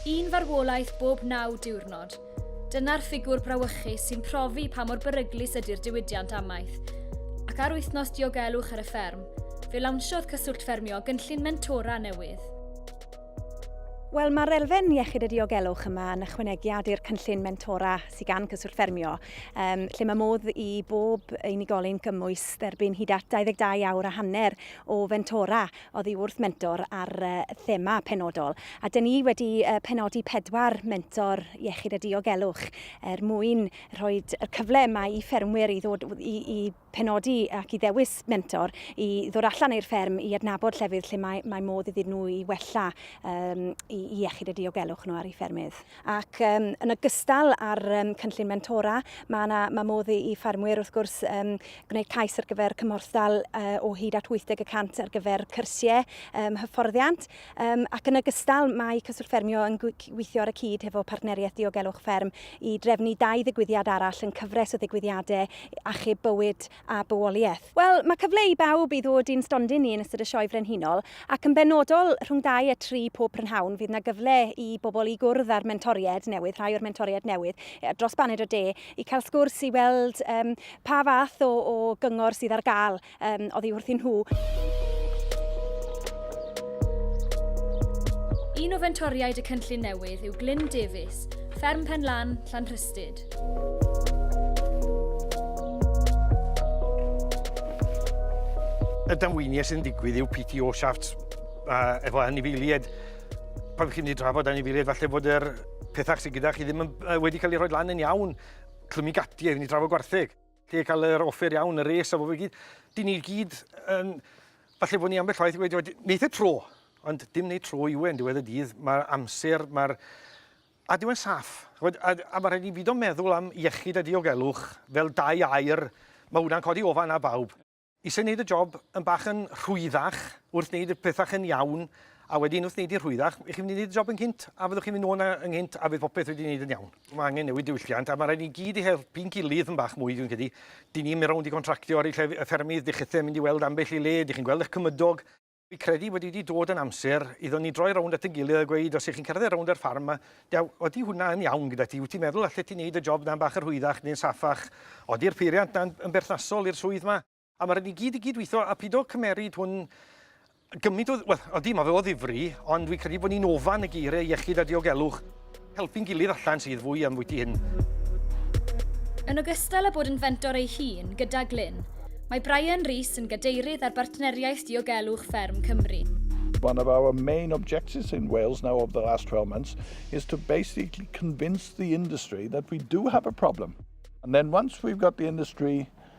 Un farwolaeth bob naw diwrnod. Dyna'r ffigwr brawychus sy'n profi pa mor beryglus ydy'r diwydiant amaeth. Ac ar wythnos diogelwch ar y fferm, fe lawnsiodd Cyswllt Ffermio gynllun mentora newydd. Wel, mae'r elfen iechyd a diogelwch yma yn ychwanegiad i'r cynllun mentora sydd gan Cyswllt Ffermio, um, lle mae modd i bob unigolyn gymwys Derbyn hyd at 22 awr a hanner o fentora oddi wrth mentor ar thema penodol, a dyn ni wedi penodi pedwar mentor iechyd a diogelwch er mwyn rhoi y cyfle yma i ffermwyr i ddod i, i penodi ac i ddewis mentor i ddod allan i'r fferm i adnabod llefydd lle mae, mae modd iddyn nhw i wella um, i, i iechyd a diogelwch nhw ar eu ffermydd. Ac yn ogystal â'r cynllun mentora, mae yna ma modd i, i ffermwyr wrth gwrs um, gwneud cais ar gyfer cymhorthdal uh, o hyd at 80 y cant ar gyfer cyrsiau um, hyfforddiant. Um, ac yn ogystal mae Cyswllt Ffermio yn gweithio ar y cyd hefo Partneriaeth Diogelwch Fferm i drefnu dau ddigwyddiad arall yn cyfres o ddigwyddiadau achub bywyd a bywoliaeth. Wel, mae cyfle i bawb i ddod i'n stondin ni yn ystod y Sioe Frenhinol, ac yn benodol rhwng 2 a 3 pob prynhawn fydd 'na gyfle i bobl i gwrdd â'r mentoriaid newydd, rhai o'r mentoriaid newydd dros baned o de, i cael sgwrs, i weld yym pa fath o o gyngor sydd ar gael yym oddi wrthyn nhw. Un o fentoriaid y cynllun newydd yw Glyn Davies, Fferm Pen Lan, Llanrhystud. Y damweiniau sy'n digwydd yw PTO shafts uh, efo anifeiliaid. Pan chi'n ei drafod anifeiliaid, falle bod yr pethau sydd gyda chi ddim yn, uh, wedi cael ei rhoi lan yn iawn. Clymu gati, efo'n ei drafod gwartheg. Lle cael yr offer iawn, y res a fo fe gyd. Dyn ni gyd, um, falle bod ni ambell waith wedi wedi, neitha tro, ond dim neud tro i wen, diwedd y dydd, mae'r amser, mae'r A dyw e'n saff. Ch'mod, a a ma' raid ni bido meddwl am iechyd a diogelwch fel dau air, ma' hwnna'n codi ofal ar bawb. Isie neud y job yn bach yn rhwyddach wrth neud y pethach yn iawn, a wedyn wrth neud hi'n rhwyddach, 'ych chi'n mynd i neud y job yn gynt, a fyddwch chi'n mynd nôl 'na yn gynt a fydd popeth wedi neud yn iawn. Ma' angen newid diwylliant, a ma' raid ni gyd i helpu'n gilydd yn bach mwy, dwi'n credu. 'Dyn ni'n mynd rownd i gontractio ar eu llef- y ffermydd, 'dych chithe yn mynd i weld ambell i le, 'dych chi'n gweld 'ych cymydog, Fi credu bod wedi dod yn amser iddo ni droi rownd at ein gilydd a gweud os ych chi'n cerdded rownd yr ffarm ma, dew, odi hwnna yn iawn gyda ti? Wyt ti'n meddwl allet ti wneud y job 'na'n bach yn rhwyddach neu'n saffach? Odi'r peiriant 'na'n yn berthnasol i'r swydd 'ma? A ma' raid ni gyd i gyd-weithio a pido cymeryd hwn gymaint o... Wel, odi, ma' fe o ddifri, ond fi'n credu bod ni'n ofan y geiriau iechyd a diogelwch. Helpu'n gilydd allan sydd fwy am fwyty hyn. Yn ogystal â bod yn fentor ei hun gyda Glyn, mae Brian Rees yn gadeirydd ar Bartneriaeth Diogelwch Fferm Cymru. One of our main objectives in Wales now over the last 12 months is to basically convince the industry that we do have a problem. And then once we've got the industry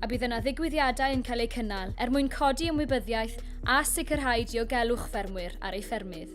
a bydd yna ddigwyddiadau yn cael eu cynnal er mwyn codi ymwybyddiaeth a sicrhau diogelwch ffermwyr ar eu ffermydd.